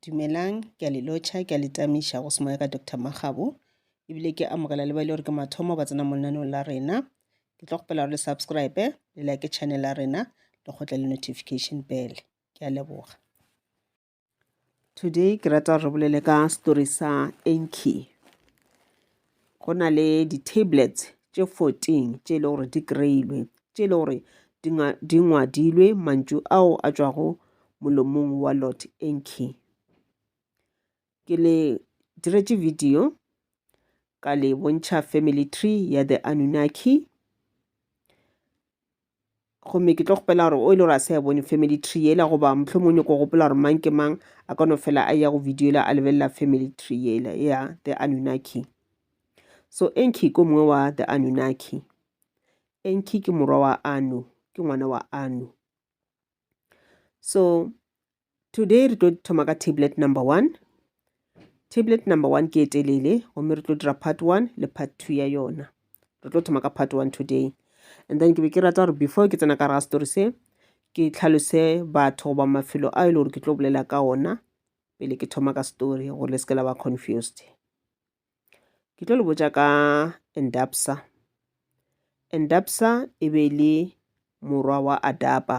Dumelang, ke a le lotšha, ke a le tamiša go semoya ka Doctor Makgabo, ebile ke amogela le ba e le gore ke mathomo ba tsena mo lenaneong la rena. Ke tlo kgopela gore le subscribe, le like channel ya rena, le kgotle le notification bell. Ke a leboga. Today ke rata gore re bolele ka story sa Enki. go na le di-tablets tše 14 tše e le gore di kreilwe tše e le gore di ngwadilwe mantšu ao a tšwago molomong wa lot enki ke le diretše video ka le bontšha family tree ya the anunaki gomme ke tlo kgopela gore o e le gore a sa e bone family tree yela goba mohlomong o nyoko gopola gore mang ke mang a ka no fela a ya go video yela a lebelela family tree yela ya the anunaki so enki ko mongwe wa the anunaki enki ke morwa wa anu ke ngwana wa anu so today re tlo thoma ka tablet number one tablet number one ke e telele gomme re tlo dira part one le part two ya yona re tlo thoma ka part one today and then ke be ke rata gore before ke tsena ka raga story se ke tlhalose batho goba mafelo a e le gore ke tlo bolela ka ona pele ke thoma ka story gore le seke la ba confused ke tlo le botja ka endapsa endapsa e be e le morwa wa adapa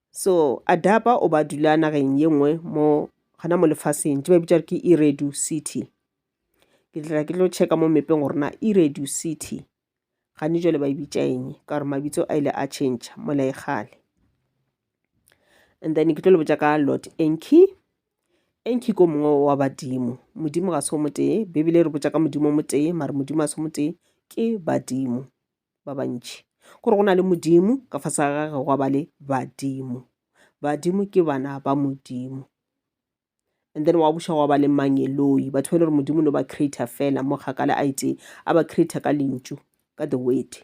so adapa o ba dula nageng ye nngwe mo gana mo lefaseng tse ba bitša ke iredu city ke tla ke tlo checka mo mepeng gore na iredu city gane jale ba e bitša eng ka gore mabitso a ile a change mola e gale and then ke tlo le botša ka lot enki enki ko mongwe wa badimo modimo ga se o motee bebele re botša ka modimo o motee mare modimo a se o motee ke badimo ba bantši gore go na le modimo ka fase ga gage gwa ba le badimo badimo ke bana ba modimo and then wa buša gwa ba le mangeloi batho ba e le gore modimo no ba creator fela mo kgakale a itee a ba creator ka lentšu ka the word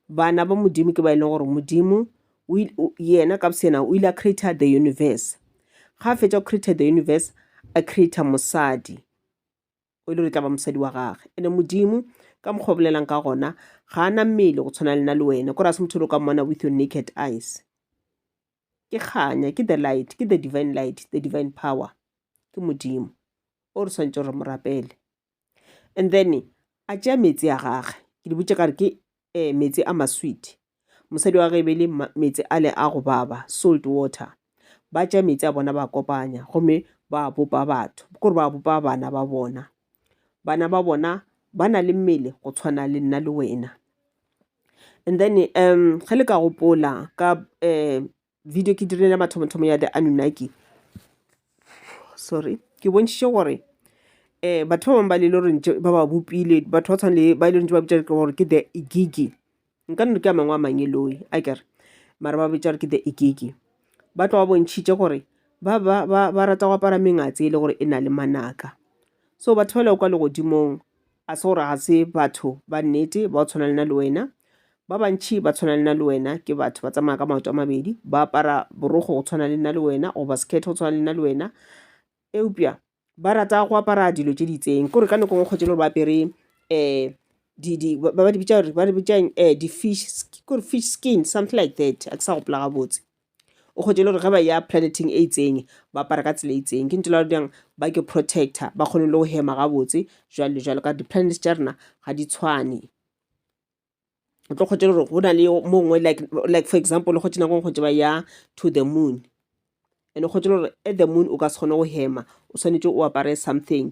bana ba modimo ke ba e leng gore modimo yena ka bosena o ile a creator the universe ga a fetša go creator the universe a creator mosadi o ile re tla ba mosadi wa gage ene modimo ka mokgwa o bolelang ka gona ga a na mmele go tshwana lena le wena kore a se motho le o ka mmona with your naked eyes ke kganya ke the light ke the divine light the divine power ke modimo o re tshwanetse gore mo rapele and then a tšea metsi a gage ke di botse ka re ke e meetse a masweet mosadi wa ge e be le meetse a le a go baba salt water ba tša meetse a bona ba kopanya gomme ba bopa batho kore ba bopa bana ba bona bana ba bona ba na le mmele go tshwana le nna le wena and then um ge le ka gopola ka um video ke dirile mathomothomo ya the anunnaki sorry ke bontšhitše gore um batho ba bangwe ba lele goreng ba ba bopile batho ba tshwane le ba ile ntse ba bitša gore ke the igigi nka nno ke a mangwe a mangeloi a kere mara ba bitša gore ke the igigi ba tlo ba bontšhitše gore ba ba ba ba rata go apara mengatse e le gore e na le manaka so batho ba le kwa legodimong A se gore ga se batho ba nnete ba tshwana le na le wena? Ba bantši ba tshwana le na le wena ke batho ba tsamaya ka maoto a mabedi, ba apara borogo go tshwana le na le wena goba sekhethe go tshwana le na le wena. Eupša ba rata go apara dilo tše di itseng, kore ka nako ngwe kgwetše le gore ba apere um di di ba ba di bitša gore ba di bitšang um di-fish ke gore fish skin something like that a ke sa gopola gabotse. o kgwetše le gore ge ba ya planeteng e itseng ba apara ka tsela e itseng ke ntho la diyang ba ke protector ba kgone le go hema gabotse jwale le jwalo ka di-planets tša rena ga di tshwane o tlo kgwetše le gore go na le mongwe like like for example o kgwetše nako e kgwetše ba ya to the moon and o kgwetše le gore at the moon o ka se kgone go hema o swanetše o apare something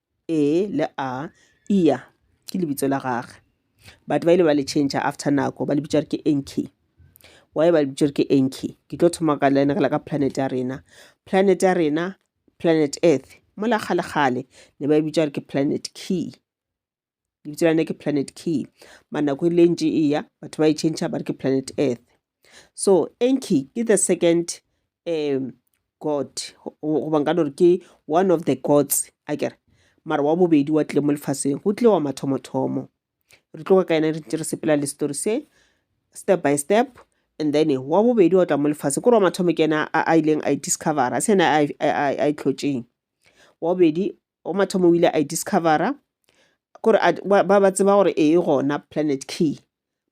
E le A, Ia, ke lebitso la gage. Batho ba ile ba le change after nako ba le bitša ke Enki. Why ba le bitša ke Enki? Ke tlo thoma ka le ka planet ya rena. Planet ya rena, planet Earth, mola kgale-kgale ne ba e bitša ke planet Ki. lebitso la ne ke planet key manako e le ntši e ya batho ba e change ba re ke planet earth so enki ke the second um god goba nka no re ke one of the gods a kere mara wa bobedi wa tlile mo lefaseng go tlile wa mathomothomo re tloga ka ena re ntse re sepela le story se step by step and then wa bobedi wa tla mo lefatshe kore wa mathomo ke ena a ileng a e discovera se ena a e tlhotseng wa bobedi o mathomo o ile a e discovera kore ba ba tseba gore e gona planet key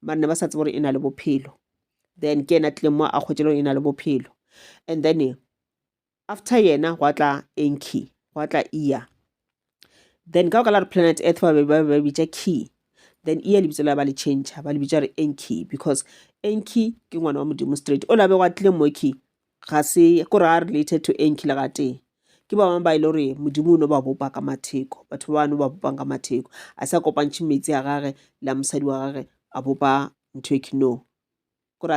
mare ne ba sa tseba gore e na le bophelo then ke ena tlileng mo a kgwetse leng e na le bophelo and then after yena gwa tla enki gwa tla ear then ka go ka la re planet earth ba be ba bitša key then ear lebitso la ba le change ba le bitša re enki because enki ke ngwana wa modimo straight o labe gwa tlileng mo key Ga se gore a related to eng kile ga tee ke ba bangwe ba e le gore modimo o no ba bopa ka matheko batho ba ba no ba bopang ka matheko a sa kopantšhe metsi a gage le a mosadi wa gage a bopa ntho e ke no gore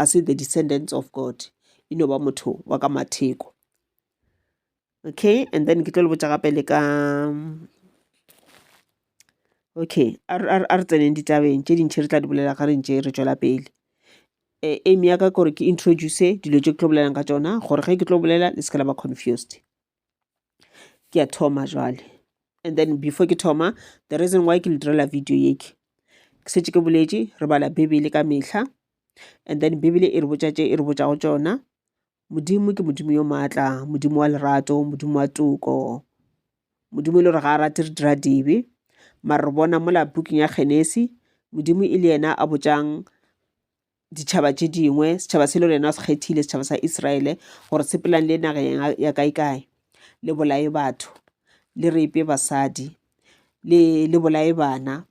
a se the descendants of god e no ba motho wa ka matheko okay and then ke tlo le botša gape le ka okay a re tseneng ditabeng tše dintšhi re tla di bolela ga re ntše re tšwela pele um aim ya ka kore ke introduce dilo tše ke tlo bolelang ka tšona gore ge ke tlo bolela le se ka la ba confused ke a thoma jwale and then before ke thoma the reason why ke le direla video ye ke ke setse ke boletše re bala bibele ka mehla and then bibele e re botša tše e re botšago tšona Modimo ke Modimo yo maatla, Modimo wa lerato, Modimo wa toko. Modimo e le gore ga a rate re dira dibe. Mare re bona mola bukeng ya Genesi, Modimo e le yena a botšang ditšhaba tše dingwe, setšhaba se le gore yena o se kgethile, setšhaba sa Iseraele, gore se pelang le nageng ya kae-kae, le bolaye batho, le repe basadi, le bolaye bana,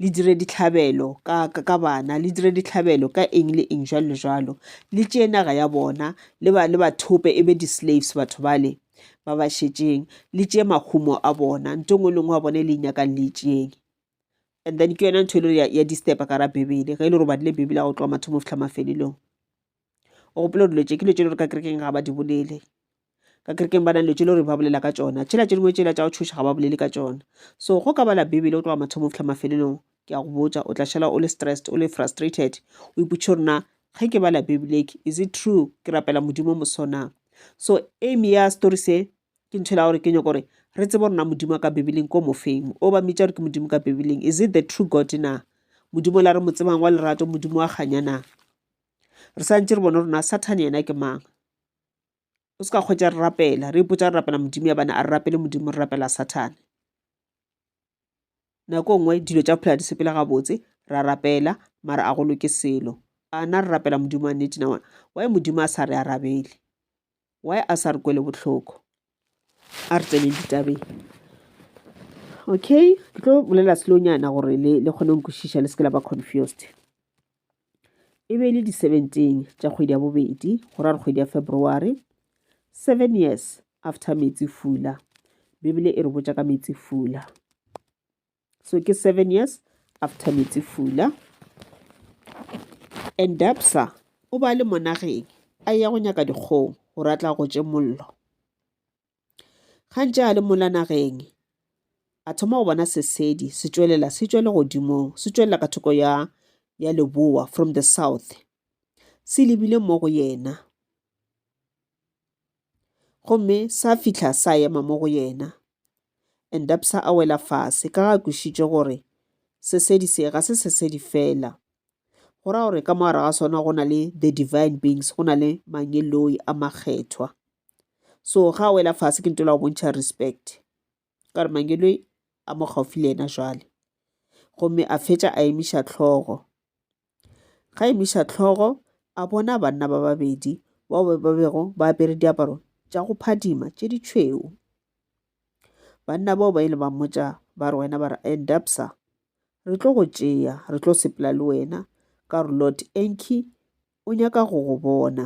le dire dihlabelo ka, ka, ka bana le dire dihlabelo ka eng le eng jwalo le jwalo le tšeye naga ya bona le ba, le ba thope e be di-slaves batho bale ba ba šetšeng le tšeye mahumo a bona nto ngwe le ngwe wa bona e le e nyakang le e tšeyeng and then ke yona ntho e le gore ya, ya disturba ka ra bibele ge e le gore o badile bibele ya go tloga mathomo go fitlha mafelelong o gopola dilo tše ke dilo tše le gore ka kerekeng ga ba di bolele ka kerekeng ba na dilo tše le gore ba bolela ka tšona tšhela tše dingwe tšela tša go thuša ga ba bolele ka tšona so go ka bala bibele go tloga mathomo fitlha mafelelong ke a go botša o tla šala o le stressed o le frustrated o ipotše gore na ge ke bala bibeleke is it true ke rapela modimo mosona so aim ya story se ke ntho e la gore ke nyoko gore re tsebe gore na modimo ka bibeleng ko mofeng o ba mmitša gore ke modimo ka bibeleng is it the true god na modimo la re mo tsebang wa lerato modimo wa kganya na re sa ntše re bone rona sathane yena ke mang o se ka kgwetsa re rapela re ipotsa re rapela modimo ya bane a re rapele modimo re rapela sathane nako nngwe dilo tša phela di sepela gabotse ra rapela mara a go loke selo ana re rapela modimo wa nnete na wa modimo a sa re arabele why a sa re kwele bohloko a re tsene ditabeng okay ke tlo bolela slonyana gore le le kgone nkwešiša le seke la ba confused e be e le di-seventeen tša kgwedi ya bobedi go ra re kgwedi ya february seven years after metsi fula bibele e re botša ka metsi fula so ke seven years after metsefula and dapsa o ba le monageng a ya go nyaka dikgong gore a tla gotse mollo gantse a le mola nageng a thoma go bona sesedi se tšwelela se tšwele godimong se tšwelela ka thoko ya ya leboa from the south se lebile mo go yena Gomme sa fihla sa ema mo go yena. Endapsa a wela fase ka ga kwišitše gore sesedi se ga se sesedi fela. Go ra gore ka mogare ga sona go na le the divine beings, go na le mangeloi a makgethwa. So ga a wela fase ke ntola go bontšha respect. ka re Mangeloi a mo gaufi le yena jwale gomme a fetša a emiša tlhogo ga emiša tlhogo a bona banna ba babedi bao ba ba bego ba apere diaparo tša go phadima tše di tšhweu banna bao ba ile ba mmotša ba re wena ba re endapsa re tlo go tšea re tlo sepela le wena ka re lord enki o nyaka go go bona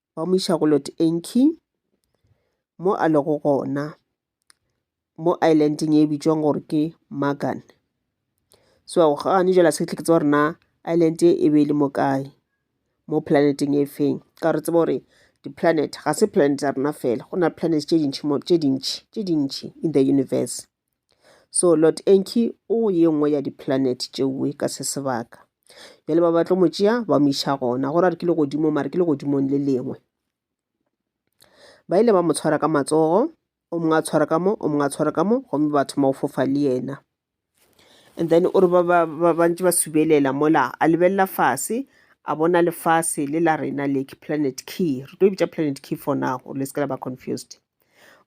ba mo iša go Lord Enki mo a lego gona mo islandeng e bitšwang gore ke Magan. So gane jela se tleke tsa gore na island e e be e le mo kae mo planeteng e feng ka re tseba gore di-planet ga se planet ya rena fela go na le planet tše dintšhi tše dintšhi tše dintšhi in the universe So Lord Enki o ye nngwe ya di-planet tšeoe ka se sebaka. Bjale ba batlo mo tšea ba mo iša gona. Go ra re ke le godimo mare ke le godimong le lengwe. Ba ile ba mo tshwara ka matsogo, o mongwe a tshwara ka mo, o mongwe a tshwara ka mo, gomme ba thoma go fofa le yena. And then o re ba ba ba ba ntse ba subelela mola a lebelela fase a bona lefase le la rena le ke planet key re tlo e bitša planet key for now le se ke la ba confused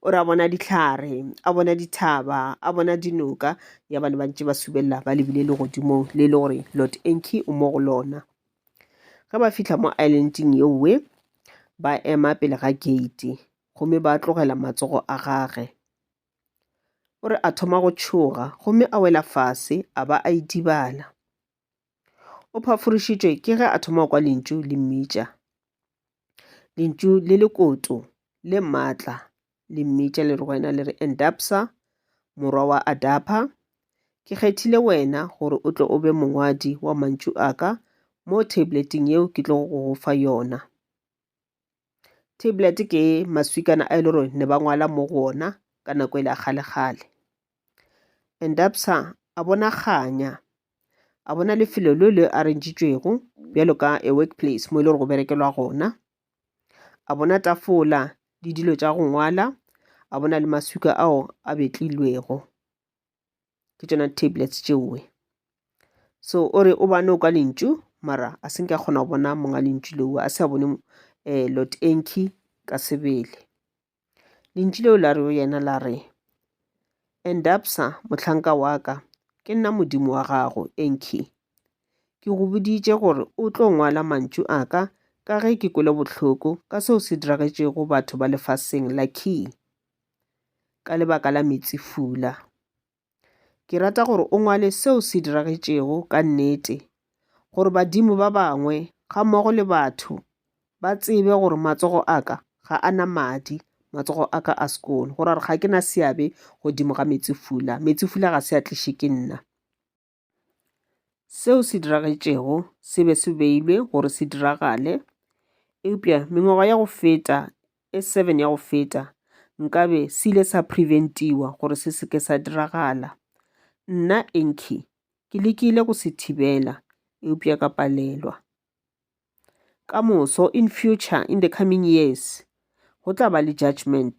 o re a bona dihlare a bona dithaba a bona dinoka ya bane ba ntse ba subelela ba lebile legodimong le e le gore lord enki o mo go lona ge ba fitlha mo islandeng yeowe ba ema pele ga gate gomme ba tlogela matsogo a gage o re a thoma go tšhoga gomme a wela fase a ba a idibala O phaforišitšwe ke ge a thoma go kwa lentšu le mmitša, lentšu le lekoto le maatla le mmitša le re go yena le re endapsa morwa wa adapa ke kgethile wena gore o tle o be mongwadi wa mantšu a ka mo tableteng yeo ke tlogo go go fa yona Tablet ke maswikana a e le gore ne ba ngwala mo go ona ka nako e le ya kgale kgale. And a bona kganya, a bona lefelo le le arrangitšwego bjalo ka a work place mo e le gore go berekelwa gona. A bona tafola le dilo tša go ngwala, a bona le maswika ao a betlilwego. ke tšona tablets tšeoe. So o re o ba noka lentšu mara a se nke a kgona go bona monga lentšu leo, a se a bone um Lord Enki ka sebele. Lentšu leo la re go yena la re, Endabsa mohlanka wa ka, ke nna Modimo wa gago, Enki. Ke go boditše gore o tlo ngwala mantšu a ka ka ge ke kwele bohloko ka seo se diragetšego batho ba lefaseng la Ki. ka lebaka la Metsifula. Ke rata gore o ngwale seo se diragetšego ka nnete gore badimo ba bangwe ga mmogo le batho ba tsebe gore matsogo a ka ga a na madi, matsogo a ka a sekolo, gore ga ke na seabe godimo ga Metsifula. Metsifula ga se a tliše ke nna. Seo se diragetšego se be se beilwe gore se diragale, eupša mengwaga ya go feta e seven ya go feta nkabe se ile sa preventiwa gore se se ke sa diragala. Nna Enki ke lekile go se thibela eupša ka palelwa. Ka moso, in future, in the coming years, go tla ba le judgement.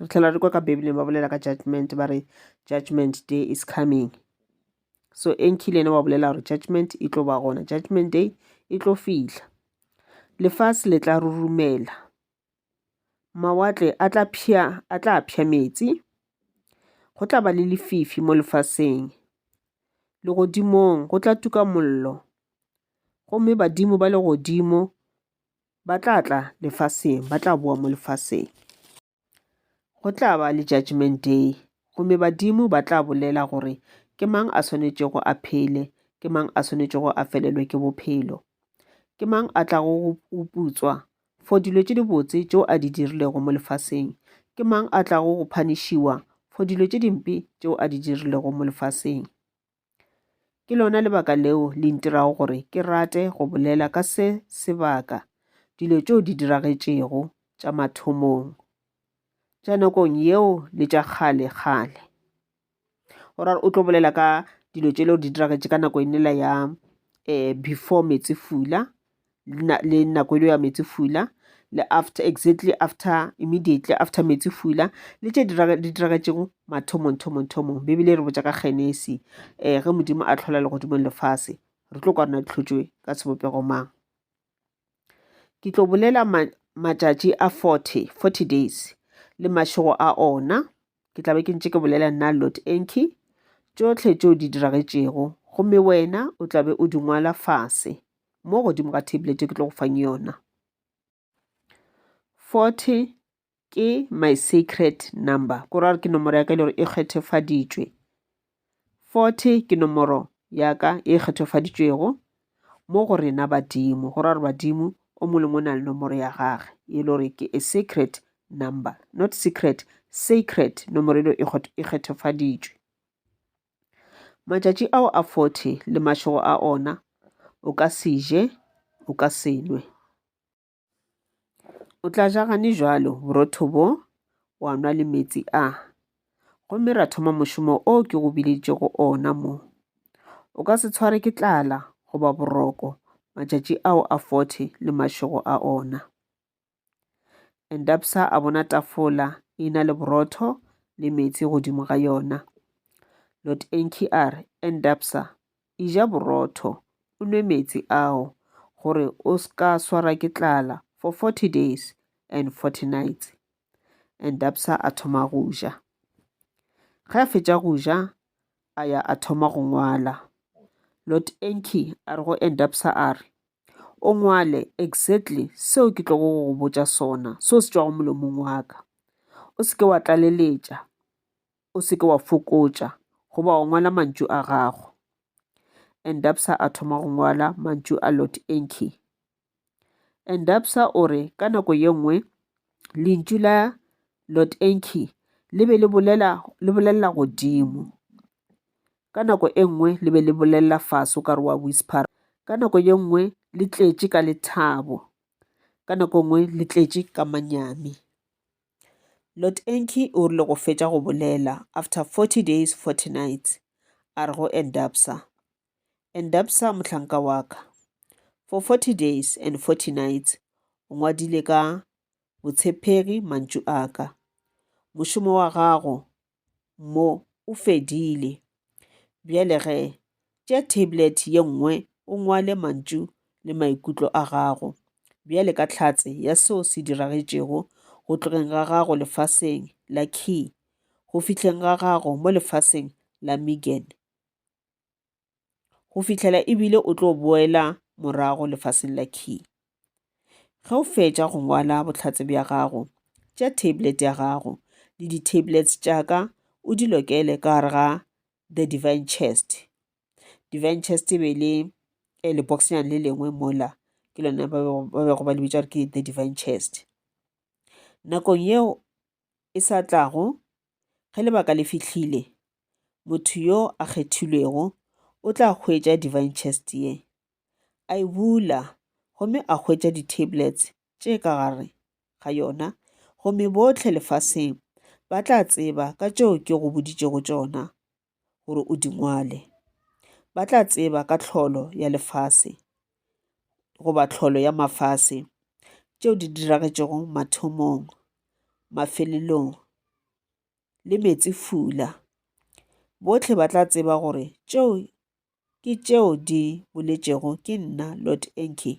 re tlhela re kwa ka bibeleng ba bolela ka judgment ba re judgment day is coming so enki le ene wa bolela gore judgment e tlo ba gona judgment day e tlo fihla lefase le tla rurumela mawatle a tla phya a tla phya metsi go tla ba le lefifi mo lefaseng legodimong go tla tuka mollo gomme badimo ba legodimo Ba tla tla lefaseng, ba tla boa mo lefaseng. Go tla ba le judgment day, gomme badimo ba tla bolela gore ke mang a swanetšego a phele, ke mang a swanetšego a felelwe ke bophelo. Ke mang a tlago go putswa for dilo tše dibotse tšeo a di dirilego mo lefaseng? Ke mang a tlago go phanishiwa for dilo tše dimpe tšeo a di dirilego mo lefaseng? Ke lona lebaka leo le ntirago gore ke rate go bolela ka se sebaka dilo tšeo di diragetšego tša mathomong tša nakong yeo le tša kgale kgale o ra o tlo bolela ka dilo tše leo di diragetše ka nako e nela ya um before metsefula le nako e le ya metsi fula le after exactly after immediately after metsi fula le tše di diragetšego mathomong thomong thomong bebele re botša ka genesi um ge modimo a tlhola legodimong lefase re tlo kwana dihlotšwe ka sebopego mang ke tlo bolela matšatši a 40 40 days le mašego a ona ke tla be ke ntše ke bolela nna lot enki tšohle tšeo di diragetšego gomme wena o tla be o di ngwala fase mo godimo ga tablet ke tlo go fang yona forty ke my secret number ko ra gore ke nomoro ya ka e le gore e kgethefaditšwe 40 ke nomoro ya ka e kgethofaditšwego mo go rena badimo, go ra gore badimo o mongwe le mongwe o na le nomoro ya gage e le gore ke a sacred number, not secret, sacred, nomoro eno e, e kgethofaditšwe. Matšatši ao a 40 le mašego a ona o ka se je o ka se nwe. O tla ja gane jalo borotho bo, wa nwa le metsi a. Gomme ra thoma mošomo o ke go bileditšego ona mo. O ka se tshware ke tlala goba boroko matšatši ao a forty le mašego a ona. Endapsa a bona tafola e na le borotho le metsi godimo ga yona. Lord Enki a re, Endapsa, Eja borotho, o nwe meetse ao, gore o s'ka swarwa ke tlala for forty days and forty nights. And Dapsa a thoma go ja. Ge a fetša go ja, a ya a thoma go ngwala. Lord Enki a re go Endapsa a re, O ngwale exactly seo ke tlogo go go botša sona, seo se tšwago molomong wa ka. O se ke wa tlaleletša. o se ke wa fokotša goba wa ngwala mantšu a gago. Endabsa a thoma go ngwala mantšu a Lord Enki. Endabsa o re ka nako ye nngwe lentšu la Lord Enki le be le bolelela godimo ka nako e nngwe le be le bolelela fase o ka re wa whisper ka nako ye nngwe le tletše ka lethabo ka nako e nngwe le tletše ka manyami. Lotenki o rile go fetša go bolela, after 40 days, 40 nights, a re go Endabsa, Endabsa mohlanka wa ka, for 40 days and 40 nights o ngwadile ka botshepegi mantšu a ka. Mošomo wa gago mo o fedile bjale ge tša tablet ye nngwe o ngwale mantšu le maikutlo a gago bjale ka tlhatse ya seo se diragetšego go tlogeng ga gago lefaseng la key go fihleng ga gago mo lefaseng la megan go fihlela ebile o tlo boela morago lefaseng la key ge o fetša go ngwala bohlatse bja gago tša tablet ya gago le di-tablets tša ka o di lokele ka gare ga the divine chest divine chest e be le eh, leboxnyane le lengwe mola ke lona ba bego ba le bitša gore ke the divine chest nakong yeo e sa tlago, ge lebaka le fihlile, motho yo a kgethilwego o tla hwetša Divine Chest ye, a e bula gomme a hwetša di-tablets tše ka gare ga yona, gomme bohle lefaseng ba tla tseba ka tšeo ke go boditšego tšona gore o di ngwale. Ba tla tseba ka tlholo ya lefase goba tlholo ya mafase tšeo di diragetšego mathomong, mafelelong le meetsefula. Bohle ba tla tseba gore tšeo ke tšeo di boletšego ke nna Lord Enki,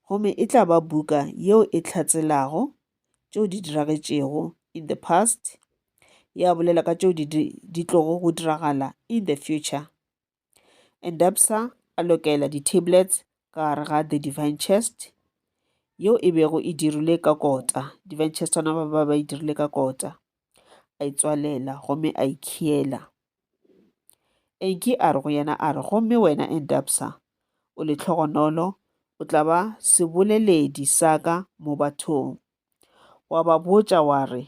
gomme e tla ba buka yeo e hlatselago tšeo di diragetšego in the past, ya bolela ka tšeo di, di, di tlogo go diragala in the future. Endabsa a lokela di-tablets ka gare ga the divine chest, yeo e bego e dirilwe ka kota, divine chest ona ba ba e dirile ka kota. a itswalela gomme a ikhiela. Enki a re go yena a re, Gomme wena Endabsa o lehlogonolo, o tla ba seboleledi sa ka mo bathong. Wa ba botša wa re,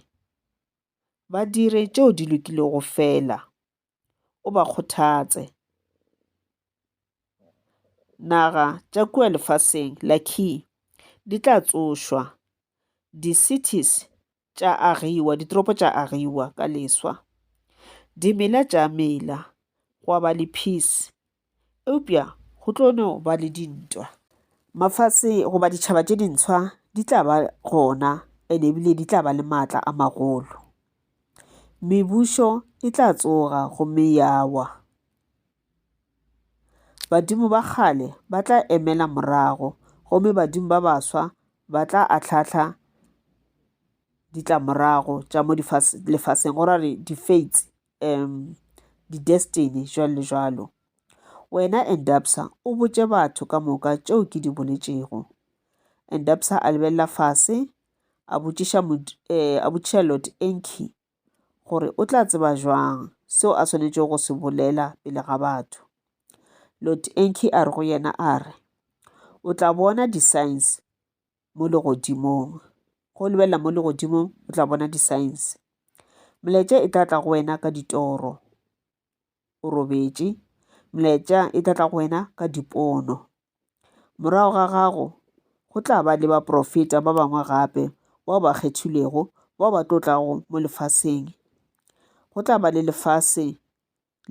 Ba dire tšeo di lokilego fela, o ba kgothatse. Naga tša kua lefaseng la Ki di tla tsošwa, di-cities tša agiwa, ditoropo tša agiwa ka leswa, dimela tša mela, gwa ba le peace Eupša go tlo no ba le dintwa. Mafase goba ditšhaba tše dintshwa di tla ba gona ene ebile di tla ba le maatla a magolo. Mebušo e tla tsoga gomme ya wa. Badimo ba kgale ba tla emela morago gomme badimo ba baswa ba tla atlhahla ditlamorago tša mo lefaseng go ra re di-fates. um di-destiny jwalo le jwalo. Wena Endabsa o botše batho ka moka tšeo ke di boletšego. Endabsa a lebelela fase, a botšiša eh, a botšiša Lord Enki gore o tla tseba jwang seo a swanetšego go se bolela pele ga batho. Lord Enki a re go yena a re, o tla bona di-science mo legodimong go o lebelela mo legodimong o tla bona di-signs molaetša e tla tla go wena ka ditoro o robetše molaetša e tla tla go wena ka dipono morago ga gago go tla ba le baprofeta ba bangwe gape bao ba kgethilwego bao ba tlo tlago mo lefaseng go tla ba le lefase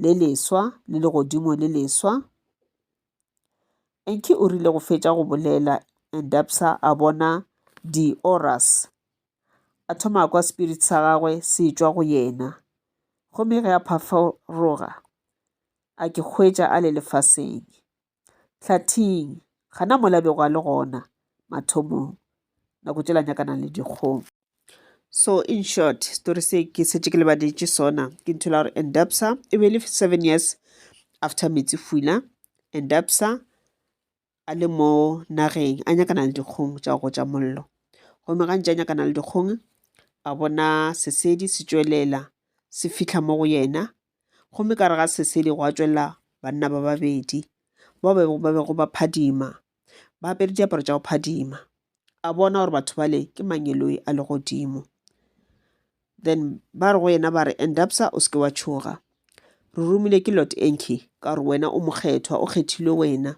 le leswa le legodimo le leswa. Enki o rile go fetša go bolela, Endabsa a bona di-auras. A thoma a kwa spirit sa gagwe se tšwa go yena. Gomme ge a phaforoga, a ke hwetša a le lefaseng. Hlathing, gana mola bego a le gona mathomong, nako tšela nyakanang le dikgong. So in short, story se ke setse ke lebaditše sona ke ntho la gore Endabsa e be le seven years after Metsi Fula. Endabsa a le mo nageng a nyakana le dikgong tša go tša mollo gomme gantši a nyakana le dikgong a bona sesedi se tšwelela se fitlha mo go yena Gomme ka gare ga sesedi gwa tšwela banna ba babedi bao ba bego ba bego ba phadima ba apere diaparo tša go phadima. A bona gore batho bale ke mangeloi a legodimo. Then ba re go yena ba re, Endabsa o seke wa tšhoga. Re romile ke Lord Enki ka gore wena o mokgethwa, o kgethilwe wena.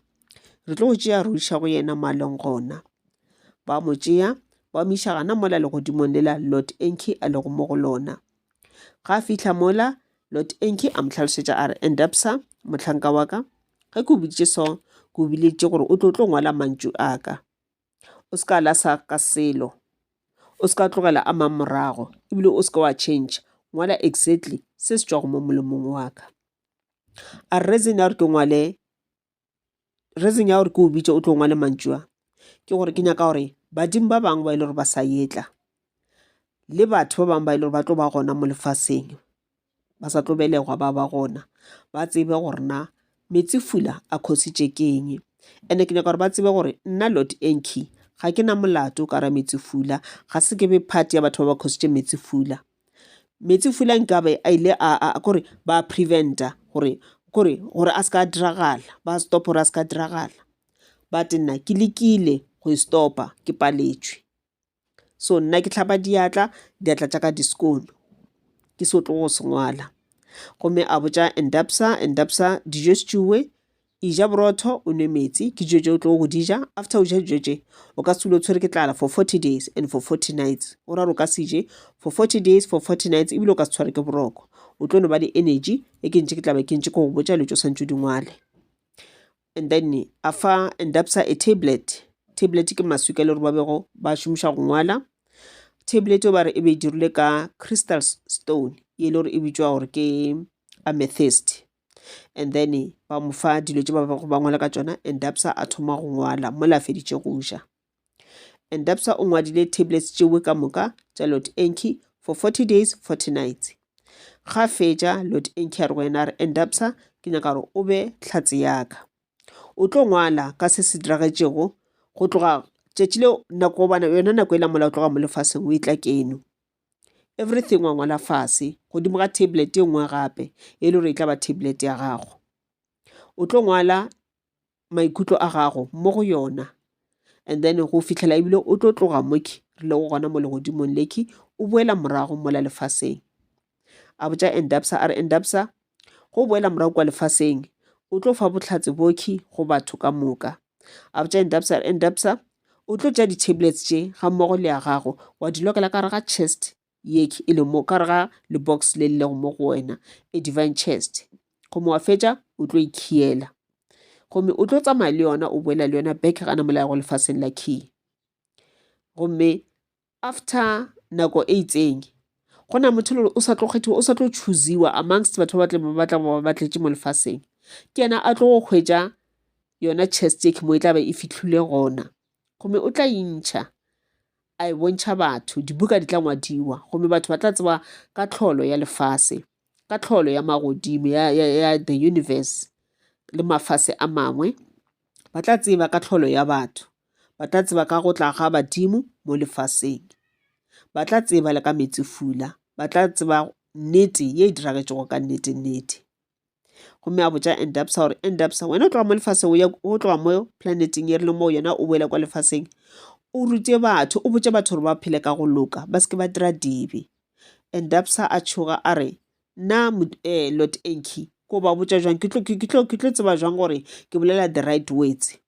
Re tlo go tšea re go iša go yena mo a leng gona. Ba mo tšea ba mo iša gana mola legodimong lela Lord Enki a lego mo go lona. Ga a fihla mola, Lord Enki a mo tlhalosetša a re, Endabsa, mohlanka wa ka, ge ke o boditše so, ke o bileditše gore o tlo tlo ngwala mantšu a ka. O se ka la sa ka selo. O se ka tlogela a mang morago, ebile o se ka wa change. Ngwala exactly se se tšwago mo molomong wa ka. A re reason ya gore ke ngwale reason ya gore ke o bitše o tlo ngwale mantšu a ke gore ke nyaka gore badimo ba bangwe ba e le gore ba sa etla le batho ba bangwe ba e le gore ba tlo ba gona mo lefaseng ba sa tlo belegwa ba ba gona ba tsebe gore na metsi fula a khositše ke eng and-e ke nyaka gore ba tsebe gore nna lord anki ga ke na molato ka ra metsi fula ga se ke be part ya batho ba ba khositše metsi fula Metsifula nkabe a ile a kore ba preventa gore kore gore a ska diragala ba stop gore a ska diragala but nna ke lekile go e stopa ke paletšwe. So nna ke hlapa diatla diatla tša ka di skoon-o ke se tlo go se ngwala gomme a botša and dubsa and dubsa dijo se tšewe. E ja borotho, o nwe metsi, ke dijo tše o tlogo go di ja. After o ja dijo tše, o ka se dule o tshwere ke tlala for 40 days and for 40 nights. Go ra gore o ka se je for 40 days, for 40 nights, ebile o ka se tshware ke boroko. O tlo no ba le energy e ke ntše ke tla be ke ntše ke go botša dilo tše o swantse o di ngwale. And then a fa endapsa a tablet. Tablet ke maswi ka le gore ba bego ba šomiša go ngwala. Tablet o ba re e be e dirilwe ka crystal stone, ye e le gore e bitšwa gore ke amethyst. and then ba mo fa dilo tse ba bego ba ngwala ka tsona and dapsa a thoma go ngwala mola a feditše go ja and dapsa o ngwadile tablets tšewe ka moka tša lot enki for 40 days 40 nights ga fetša lot enki a re go yena re and dapsa ke nyaka gore o be tlhatse yaka o tlo ngwala ka se se diragetšego go tloga tšatši leo nako gobana yona nako e la mola o tloga mo lefaseng o e tla keno Everything wa ngwala fase godimo ga tablet e nngwe gape e le gore e tla ba tablet ya gago. O tlo ngwala maikutlo a gago mo go yona and then go fitlhela ebile o tlo tloga moki re le go gona mo legodimong leki o boela morago mola lefaseng. A botsa Endabsa a re Endabsa Go boela morago kwa lefaseng, o tlo fa bohlatse bokhi go batho ka moka. A botša Endabsa, Endabsa, o tlo tša di-tablets tše ga mmogo le ya gago wa di lokela ka re ga chest yekhi e le mo ka re ga lebox le lego mo go wena a e divine chest gomme wa fetša o tlo ikhiela e gomme o tlo tsamaya le yona o boela le yona back ga namolayago lefaseng la key gomme After nako e itseng go na motho lore o sa tlo kgethiwa o sa tlo choosewa amongst batho ba ba tlebe ba tla go ba tletše mo lefaseng ke yena a tlo go hwetša yona chest e mo e tla be e fitlhile gona gomme o tla intšha a e bontšha batho dibuka di tla ngwadiwa gomme batho ba tla tseba ka tlholo ya lefase ka tlholo ya magodimo ya the universe le mafase a mangwe Ba tla tseba ka tlholo ya batho. Ba tla tseba ka go tla ga badimo mo lefaseng. Ba tla tseba le ka metsefula. Ba tla tseba nnete ye e diragetšego ka nnete nnete gomme a botša endapsa gore endapsa wena o tloga mo lefaseng o tloga mo planeteng e rile moo yona o boele kwa lefaseng o rute batho o botše batho gore ba phele ka go loka ba se ke ba dira dibe endapsa a tšhoga a re Nna Lot Enki ko ba botša jwang ke tlo ke tlo ke tlo tseba jwang gore ke bolela the right words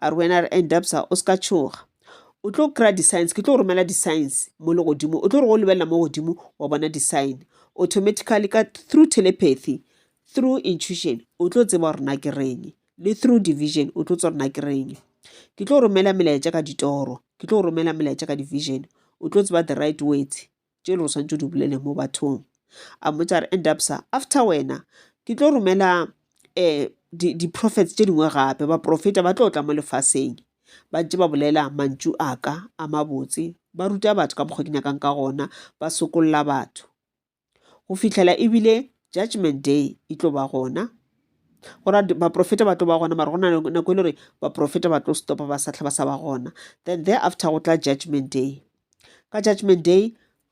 a re wena re end up sa o se ka tshoga o tlo kry-a di-science ke tlo go romela di-science mo le godimo o tlo re go lebelela mo godimo wa bona di-sign automatically ka through telepathy through intuition o tlo tseba gore na ke reng le through division o tlo tsa gore na ke reng ke tlo romela melaetša ka ditoro ke tlo romela melaetša ka division o tlo tseba the right words tše le o swantšo di bolele mo bathong a mmotša a re and up sa after wena ke tlo romela um di-prophets tše dingwe gape baprofeta ba tlo tla mo lefaseng ba ntše ba bolela mantšu a ka a mabotse ba ruta batho ka mokgwa ke nyakang ka gona ba sokolola batho go fihlela ebile judgment day e tlo ba gona go ra baprofeta ba tlo ba gona mara go na nako e le gore baprofeta ba tlo stopa ba sa tlha ba sa ba gona then there after go tla judgment day Ka Judgment Day,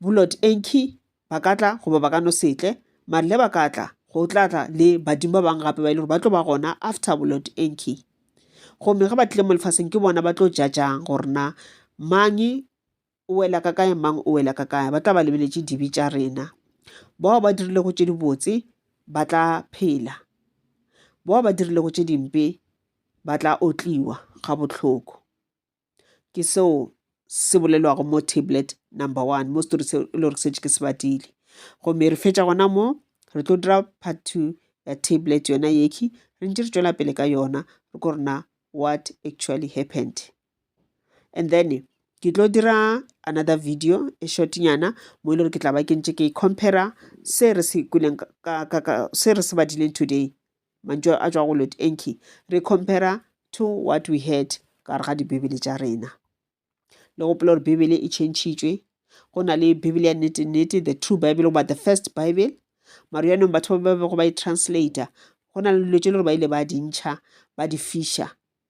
Bulot Enki ba ka tla goba ba ka no se tle, mare le ba ka tla, go tla tla le badimo ba bangwe gape ba e le gore ba tlo ba gona after Bulot Enki. Gomme ge ba tlile mo lefaseng ke bona ba tlo jajang gore na mang o wela ka kae mang o wela ka kae ba tla ba lebeletše dibe tša rena bao ba dirilego tše dibotse ba tla phela bao ba dirilego tše dimpe ba tla otliwa ga bohloko ke seo se bolelwago mo tablet number one mo story se e le gore setse ke se badile gomme re fetša gona mo re tlo dira part two ya tablet yona yekhi re ntse re tšwela pele ka yona re ko rena what actually happened and then ke tlo dira another video e shortnyana mo e le gore ke tla ba ke ntse ke compara se re se badileng today Mantšu a tšwa go Lord Enki. Re compara to what we had ka gare ga dibibele tša rena. Le gopola gore Bibele e tšhentšhitšwe. Go na le Bibele ya nnete-nnete, the true Bible, goba the first Bible. Maro yanong batho ba bego ba e translator, go na le dilo tše le gore ba ile ba di ntšha, ba di fiša.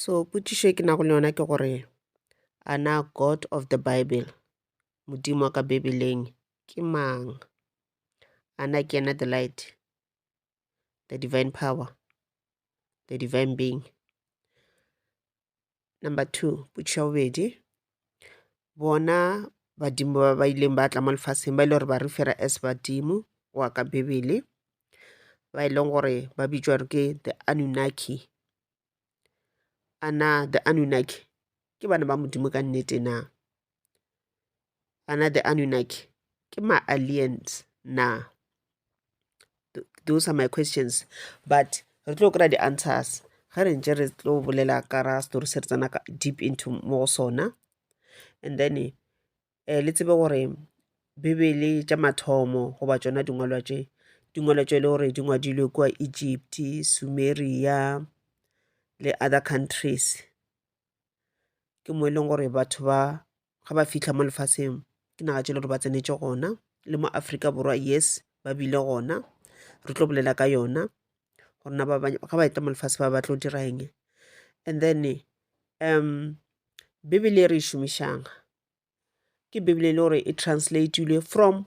So potšišo e ke nago le yona ke gore, a na God of the bible, Modimo wa ka Bibeleng ke mang? A na ke yena the light, the divine power, the divine being? Number two, potšišo ya bobedi, Bona badimo ba ba ileng ba tla mo lefaseng ba e le gore ba re fera as badimo go ya ka Bibele, ba e leng gore ba bitšwa gore ke the Anunnaki. A na the Anunnaki ke bana ba Modimo ka nnete na? A na the Anunnaki ke ma-aliens na? those are my questions but re tlo kry-a di-answers ge re ntse re tlo bolela ka ra story se re tsena ka deep into mo go sona and then um le tsebe gore bibele tša mathomo goba tšona dingwalwa tše di ngwalwa tše e le gore di ngwadilwe kua Egypt, Sumeria le other countries ke mo e leng gore batho ba ga ba fihla mo lefaseng ke naga tše le gore ba tsenetše gona le mo Afrika Borwa yes ba bile gona re tlo bolela ka yona gore na ba ga ba etla mo lefase ba ba tlo dira eng and then um bibele e re e šomišang ke bibele e le gore e translatilwe from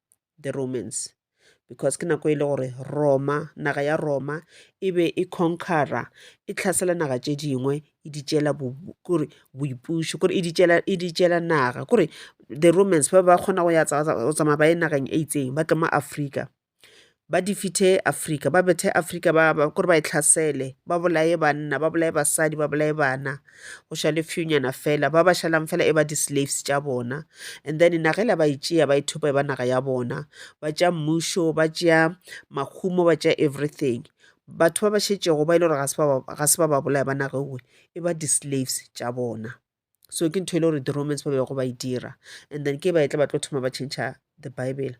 the romans because ke nako e le gore roma naga ya roma e be e conquera e tlhasela naga tše dingwe e di tšela kore boipušo kore e di tšela naga kore the romans ba ba kgona go ya go tsamaya ba ye nageng e itseng ba tla mo afrika ba di fithe Afrika, ba bethe Afrika ba, ba, kore ba e tlhasele, ba bolaye banna, ba bolaye basadi, ba bolaye bana, go šale fewnyana fela, ba ba šalang fela e ba di-slaves tša bona. And then naga ela ba e tšea, ba e thopa e ba naga ya bona, ba tšea mmušo, ba tšea mahumo, ba tšea everything. Batho ba ba šetšego ba e le gore ga se ba ba, ga se ba ba bolaya ba nage nngwe, e ba di-slaves tša bona. so ke ntho e le gore di-romans ba bego ba e dira and then ke ba e tla ba tlo thoma ba change the bible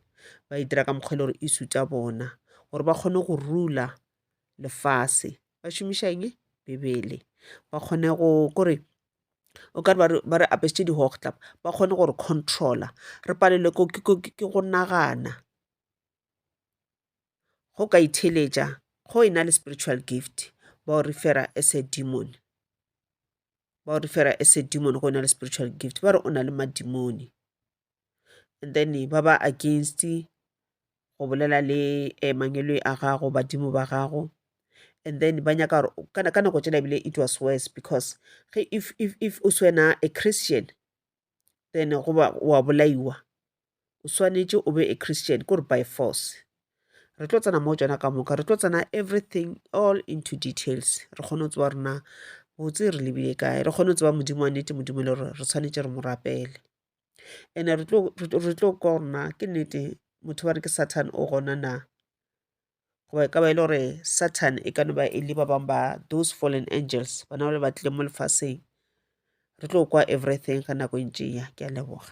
ba e dira ka mokgwa e le gore e suta bona gore ba kgone go rula lefase ba šomiša eng bebele ba kgone go kore o ka re ba re apesitše di-hochtlap ba kgone gore controller re palelwe ke go nagana go ka itheeletša go e na le spiritual gift ba o refer-a as a demon ba o refer-a as a demon go e na le spiritual gift ba re o na le madimoni and then ba ba against go bolela le mangwele a gago badimo ba gago and then ba nyaka gore ka nako tšela ebile it was worse because ge if o swena a christian then goba wa bolaiwa o swanetše o be a christian kore by force re tlo tsena mo tsona ka moka re tlo tsena everything all into details re kgone go tseba rena botse re lebile kae re kgone go tseba modimo wa nnete modimo le gore re tshwanetse re mo rapele ene re tlo kwa gorena ke nnete motho ba re ke satan o gona na goba e ka ba e le gore satan e ka no ba e le ba bangwe ba those fallen angels bana ba le ba tlile mo lefaseng re tlo kwa everything ga nako e ntšeya ke a leboga